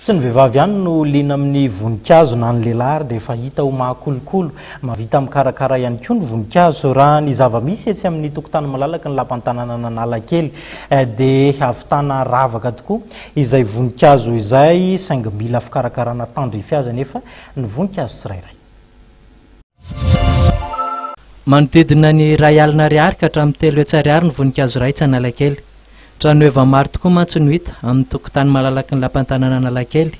Tsy ny vehivavy ihany no liana amin'ny voninkazo na ny lehilahy ary dia efa hita ho mahakolokolo. Mahavita mikarakara ihany koa ny voninkazo. Raha ny zava-misy etsy amin'ny tokontany malalaky ny lapantananan'Analakely dia ahavitana ravaka tokoa izay voninkazo izay saingy mila fikarakarana tandrify azy anefa ny voninkazo tsirairay. Manodidina ny iray alina ariary ka hatramin'ny telo hetsy ariary ny voninkazo iray etsy Analakely. Tranoheva maro tokoa mantsy no hita amin'ny tokontany malalaky ny lapan'ny tanàna Analakely.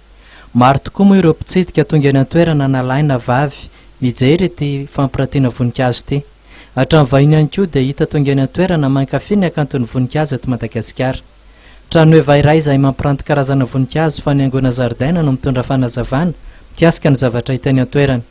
Maro tokoa moa ireo mpitsidika tonga eny an-toerana na lahy na vavy mijery ity fampirantiana voninkazo ity. Hatramin'ny vahiny ihany koa dia hita tonga eny an-toerana mankafy ny hakanton'ny voninkazo eto Madagasikara. Tranoheva iray izay mampiranty karazana voninkazo fanaingoana zaridaina no mitondra fanazavana mikasika ny zavatra hita eny an-toerana.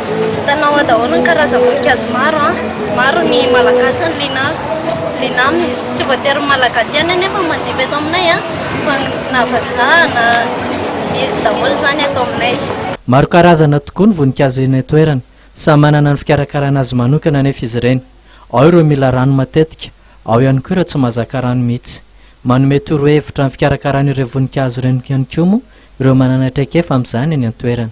Hitanao ao daholo ny karazam-boninkazo maro. Maro ny malagasy no liana azy, liana aminy. Tsy voatery ny malagasy ihany anefa no manjifa eto aminay fa na vazaha na izy daholo izany eto aminay. Maro karazana tokoa ny voninkazo eny an-toerana. Samy manana ny fikarakarana azy manokana anefa izy ireny. Ao ireo mila rano matetika, ao ihany koa ireo tsy mahazaka rano mihitsy. Manome torohevitra amin'ny fikarakarana ireny voninkazo ireny ihany koa moa ireo manana traikefa amin'izany eny an-toerana.